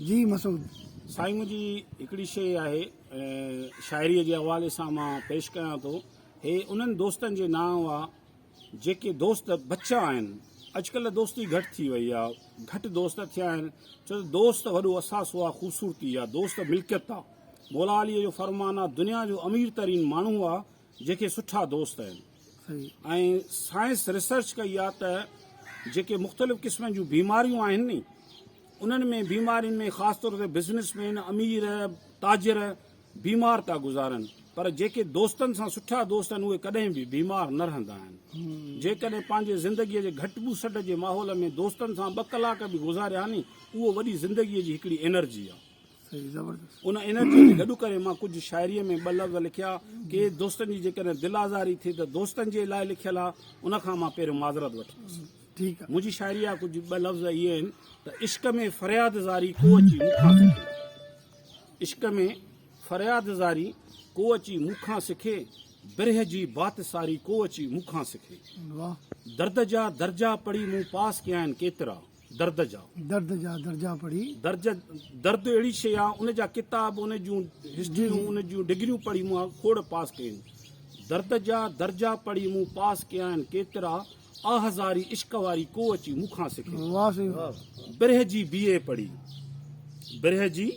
جي مسعود سائين منهنجي هڪڙي شيء آهي شاعري جي حوالي سان مان پيش ڪيان ٿو هي انهن دوستن جي نانء آ جيڪي دوست بچا آهن اڄڪلهه دوستي گهٽ ٿي وئي آ گهٽ دوست ٿيا آهن ڇو ته دوست وڏو اثاثو آ خوبصورتي آ دوست ملڪيت آ مولا علي جو فرمان آ دنيا جو امير ترين ماڻهو آ جيڪي سٺا دوست آهن ۽ سائنس ريسرچ ڪئي آهي ته جيڪي مختلف قسمن جون بيماريون آهن ني انهن ۾ بيمارين ۾ خاص طور تي بزنس مين امير تاجر بيمار ٿا گذارن پر جيڪي دوستن سان سٺا دوست آهن اهي ڪڏهن به بيمار نه رهندا آهن جيڪڏهن پنهنجي زندگي جي گهٽ بوسٽ جي ماحول ۾ دوستن سان ٻه ڪلاڪ به گذاريا ني اهو وڏي زندگي جي هڪڙي انرجي آهي ان انرجيء کي گڏ ڪري مان ڪجهه شاعريء ۾ ٻه لفظ لکيا، ڪي دوستن جي جيڪڏهن دل آزاري ٿي ته دوستن جي لاء لکيل آ، ان کان مان پهريون معذرت وٺندس. منهنجي شاعريء جا ڪجهه ٻه لفظ اهي آهن ته عشق ۾ فرياد زاري ڪو اچي مون کان سکي، عشق ۾ فرياد زاري ڪو اچي مون کان سکي، برهه جي بات ساري ڪو اچي مون کان سکي، درد جا درجا پڙهي مون پاس ڪيا آهن ڪيترا، درد جا. درد جا درجا پڙهي. درج، درد اهڙي شيء آ، ان جا ڪتاب، ان جون هسٽريون، ان جون ڊگريون پڙهي مون آ کوڙ پاس ڪيون. درد جا درجا پڙهي مون پاس ڪيا آهن ڪيترا، آ هزاري عشق واري ڪو اچي مون کان سکي. واهه سائين واهه. برهه جي بي اي پڙهي. برهه جي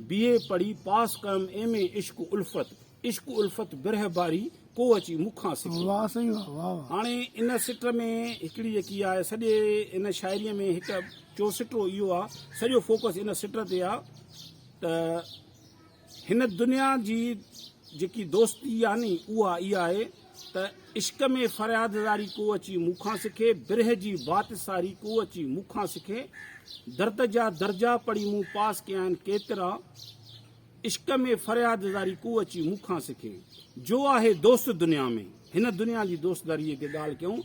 بي اي پڙهي پاس ڪيم ايم اي عشق الفت. عشق الفت برهه باري ڪو اچي مون کان سکي. واهه سائين واهه واهه واهه. هاڻي ان سٽر ۾ هڪڙي جيڪي آهي سڄي ان شاعريء ۾ هڪ چوسٽرو اهو آهي سڄو فوڪس ان سٽر تي آهي ته هن دنيا جي جيڪي دوستي آهي ني اها اها آهي ته عشق ۾ فرياد زاري ڪو اچي مون کان سکي برهه جي بات ساري ڪو اچي مون کان سکي درد جا درجا پڙهي مون پاس ڪيا آهن ڪيترا عشق ۾ فرياد زاري ڪو اچي مون کان سکي جو آهي دوست دنيا ۾ هن دنيا جي دوستداريء جي ڳالهه ڪيون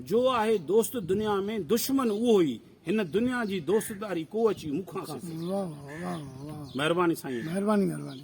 جو آهي دوست دنيا ۾ دشمن اهو ئي هن دنيا جي دوستداري ڪو اچي مون کان سکي مهرباني سائين مهرباني مهرباني.